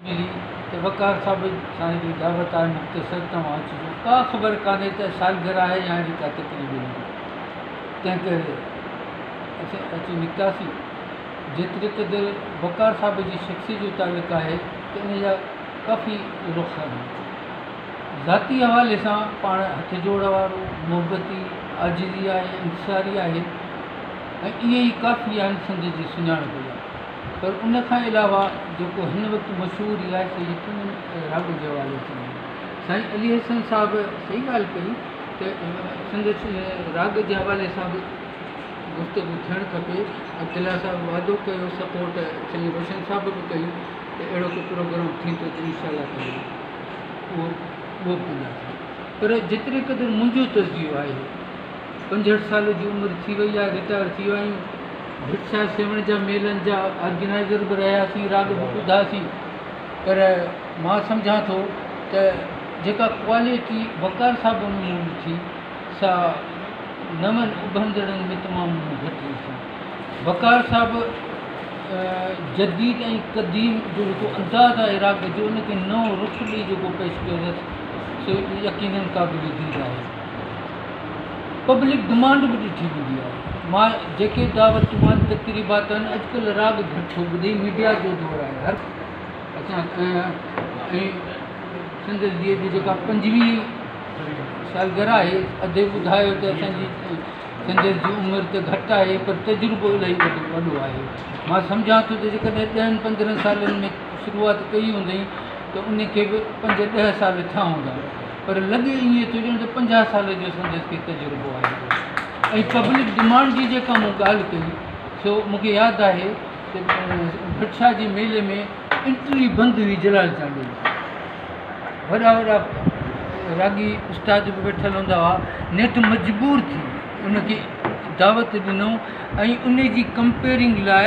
ملي ته وقار صاحب سائين جي دعوت آهي مختصر توهان اچجو ڪا خبر ڪانهي ته سالگرهه آهي يا اهڙي ڪا تقريب هوندي تنهن ڪري اسين اچي نڪتاسين جيتري قدر وقار صاحب جي شخصي جو تعلق آهي ته ان جا ڪافي رخ آهن ذاتي حوالي سان پاڻ هٿ جوڙ وارو محبتي عاجزي آهي انڪساري آهي ۽ اهي ئي ڪافي آهن سنڌ جي سڃاڻپ لاء پر ان کان علاوه جيڪو هن وقت مشهور رياستي گيتن ۽ راڳن جي حوالي سان آهي سائين علي حسن صاحب صحيح ڳالهه ڪئي ته سندس راڳ جي حوالي سان به گفتگو ٿيڻ کپي عبدالله صاحب وعدو ڪيو سپورٽ سائين روشن صاحب به ڪئي ته اهڙو ڪو پروگرام ٿيندو ته انشاء الله تعالي اهو اهو به ڪنداسين پر جيتري قدر منهنجو تجزيو آهي پنجهٺ سال جي عمر ٿي وئي آهي رٽائر ٿي ويا آهيون ڀٽ صاحب سيوهڻ جا ميلن جا آرگنائيزر به رهياسين راڳ به ٻڌاسين پر مان سمجهان ٿو ته جيڪا ڪوالٽي وقار صاحب ۾ مون ڏٺي سا نون اڀرندڙن ۾ تمام گهٽ ڏٺي وقار صاحب جديد ۽ قديم جو جيڪو انداز آهي راڳ جو ان کي نئون رخ ڏئي جيڪو پيش ڪيو اٿس سو يقينن قابل ديد آهي پبلڪ ڊمانڊ به ڏٺي ويندي آهي. ماء جيڪي دعوتون آهن، تقريبات آهن، اڄڪلهه راڳ گهٽ ٿو ٻڌي، ميڊيا جو دور آهي، هر ۽ سندس ڌيء جي جيڪا پنجويهه سالگرهه آهي، ادي ٻڌايو ته اسان جي سندس جي عمر ته گهٽ آهي پر تجربو الاهي وڏو آهي، مان سمجهان ٿو ته جيڪڏهن ڏهن پندرهن سالن ۾ شروعات ڪئي هوندئين ته ان کي به پنج ڏهه سال ٿيا هوندا. پر لڳي ائين ٿو ڄڻ ته پنجاهه سال جو سندس کي تجربو آهي ۽ پبلڪ ڊمانڊ جي جيڪا مون ڳالهه ڪئي سو مون کي ياد آهي ته ڀٽ شاهه جي ميلي ۾ انٽري بند هئي جلال چانڊيو جي وڏا وڏا راڳي استاد به ويٺل هوندا هئا نيٺ مجبور ٿي ان کي دعوت ڏنو ۽ ان جي ڪمپيرنگ لاء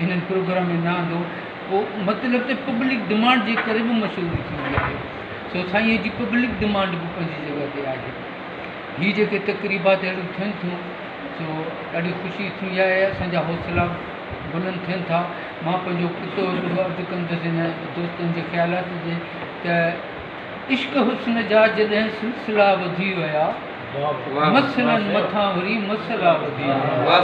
هنن پروگرام ۾ نه آندو هو مطلب ته پبلڪ ڊمانڊ جي ڪري به مشهوري ٿيندي آهي سو سائينء جي پبلڪ ڊمانڊ به پنهنجي جڳهه تي آهي هي جيڪي تقريبات اهڙيون ٿين ٿيون سو ڏاڍي خوشي ٿيندي آهي اسان جا حوصلا بلند ٿين ٿا مان پنهنجو ڪتو به عرض ڪندس هن دوستن جي خيالات جي ته عشق حسن جا جڏهن سلسلا وڌي ويا مصلن مٿان وري مصلا ٻڌي آيا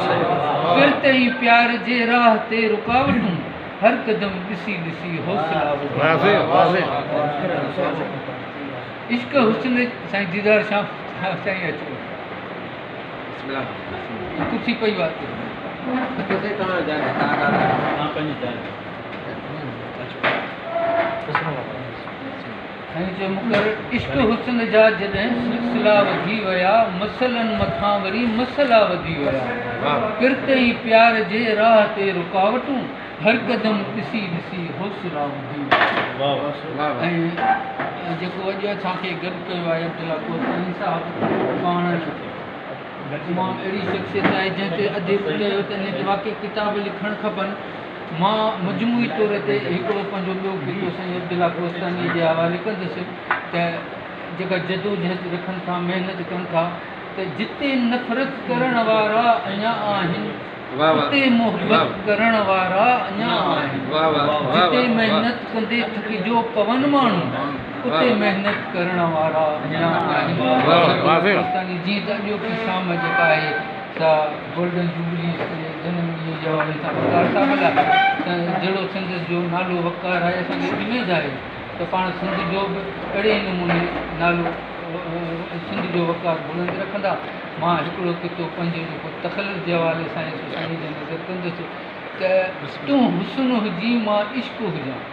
پرتئين پيار جي راهه تي رڪاوٽون هر قدم ڏسي ڏسي حوصلا ٻڌي آيا هن جو مقرر عشق حسن جا جڏهن سلسلا وڌي ويا مسئلن مٿان وري مسئلا وڌي ويا پرت ۽ پيار جي راهه تي رڪاوٽون هر قدم ڏسي ڏسي حوصلا وڌي ويا ۽ جيڪو اڄ اسان کي گڏ ڪيو آهي عبدالله ڪوسائي صاحب پاڻ تمام اهڙي شخصيت آهي جنهن تي اديب چيو ته هن تي واقعي ڪتاب لکڻ کپن مان مجموعي طور تي هڪڙو پنهنجو ٻيو خطو سائين عبدالله ڪوهستانيء جي حوالي ڪندس ته جيڪا جدوجهد رکن ٿا، محنت ڪن ٿا ته جتي نفرت ڪرڻ وارا اڃا آهن، اتي محبت ڪرڻ وارا اڃا آهن. جتي محنت ڪندي ٿڪجيو پون ماڻهو، اتي محنت ڪرڻ وارا اڃا آهن. سائين عبدالله ڪوهستاني جيئن ته اڄوڪي شام جيڪا آهي سا گولڊن جوبليز تي جنم ڏينهن جا اهي ٿا وقار ٿا ملهائن ته جهڙو سنڌ جو نالو وقار آهي اسان کي اميد آهي ته پاڻ سنڌ جو به اهڙي ئي نموني نالو سنڌ جو وقار بلند رکندا مان هڪڙو ڪتو پنهنجو جيڪو تخلص جي حوالي سان هي سو سائين جي نظر ڪندس ته تون حسن هجين مان عشق هجان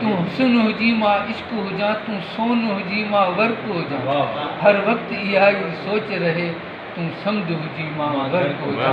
تون حسن هجين مان عشق هجان تون سون هجين مان ورق هجان هر وقت اها ئي سوچ رهي تون سمنڊ هجين مان غرق هجان